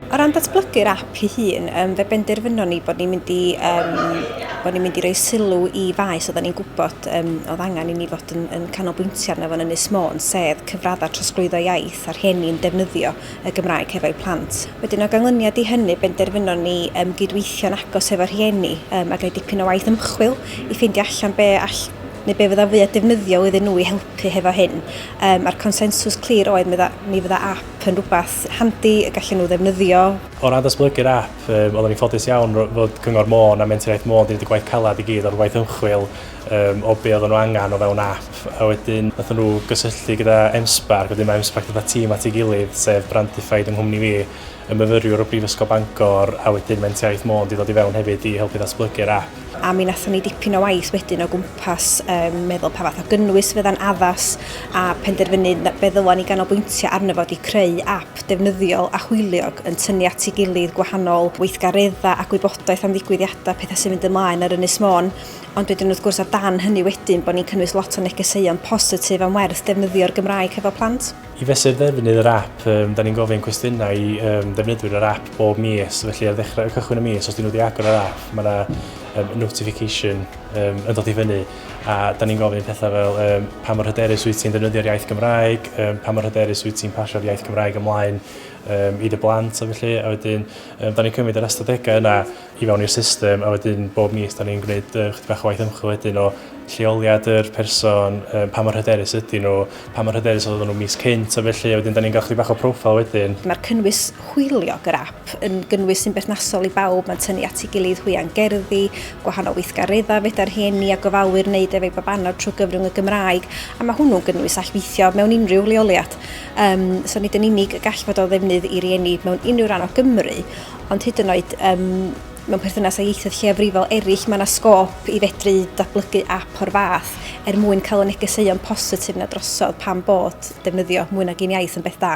O ran datblygu'r app ei hun, um, fe benderfynon ni bod ni'n mynd i um, bod ni'n mynd i roi sylw i faes oedden ni'n gwybod um, oedd angen i ni fod yn, yn canolbwyntio arno fo'n Ynys Môn, sef cyfraddau trosglwyddo iaith a'r rhieni yn defnyddio y Gymraeg hefo'u plant. Wedyn o ganlyniad i hynny, benderfynon ni um, gydweithio'n agos hefo'r rhieni um, a gael dipyn o waith ymchwil i ffeindio allan be all neu be fydda fwy o defnyddio iddyn nhw i helpu hefo hyn. Um, a'r consensws clir oedd mi fydda app yn rhywbeth handi y gallen nhw ddefnyddio. O ran datblygu'r app, um, oeddwn i'n ffodus iawn fod Cyngor Môn a Mentraiaeth Môn wedi gwneud y gwaith calad i gyd o'r gwaith ymchwil um, o be oedden nhw angen o fewn app. A wedyn, nath nhw gysylltu gyda MSPARC, wedyn mae MSPARC gyda tîm at ei gilydd, sef Brandified yng nghwmni fi, y myfyriwr o Brifysgol Bangor, a wedyn Mentraiaeth Môn wedi dod i fewn hefyd i helpu ddatblygu'r app. a mi wnaethon ni dipyn o waith wedyn o gwmpas um, meddwl pa fath o gynnwys fydda'n addas a penderfynu fe ddylan ni ganolbwyntio arno fod i creu app defnyddiol a hwyliog yn tynnu at ei gilydd gwahanol weithgareddau a gwybodaeth am ddigwyddiadau pethau sy'n mynd ymlaen ar Ynys Môn ond wedyn wrth gwrs o dan hynny wedyn bod ni'n cynnwys lot o negeseuon positif am werth defnyddio'r Gymraeg hefo plant. I fesur ddefnydd yr ap, um, da ni'n gofyn cwestiynau i um, ddefnyddwyr yr ap bob mis, felly ar ddechrau y cychwyn y mis, os dyn nhw wedi agor yr ap, mae yna um, notification um, yn dod i fyny, a da ni'n gofyn pethau fel um, pa mor hyderus wyt ti'n ddefnyddio'r iaith Gymraeg, um, pa mor hyderus wyt ti'n pasio'r iaith Gymraeg ymlaen um, i dy blant, a felly, a wedyn, um, da ni'n cymryd yr ystadegau yna, i fewn i'r system a wedyn bob mis da ni'n gwneud yy chydig bach o waith ymchwil wedyn o lleoliad yr person, yy, pa mor hyderus ydyn nhw, pa mor hyderus oedden nhw mis cynt a felly, a wedyn da ni'n cael chydig bach o profile wedyn. Mae'r cynnwys hwyliog yr ap yn gynnwys sy'n berthnasol i bawb, mae'n tynnu at ei gilydd hwya'n gerddi, gwahanol weithgareddau fedar rhieni a gofalwyr wneud efo'u babanod trwy gyfrwng y Gymraeg, a mae hwnnw'n gynnwys all weithio mewn unrhyw leoliad. Um, so nid yn unig y gall fod o ddefnydd i rieni mewn unrhyw ran o Gymru, ond hyd yn oed um, mewn perthynas â ieithoedd lleiafrifol eraill, mae yna sgôp i fedru datblygu ap o'r fath er mwyn cael y negeseuon positif na drosodd pan bod defnyddio mwy nag un iaith yn beth da.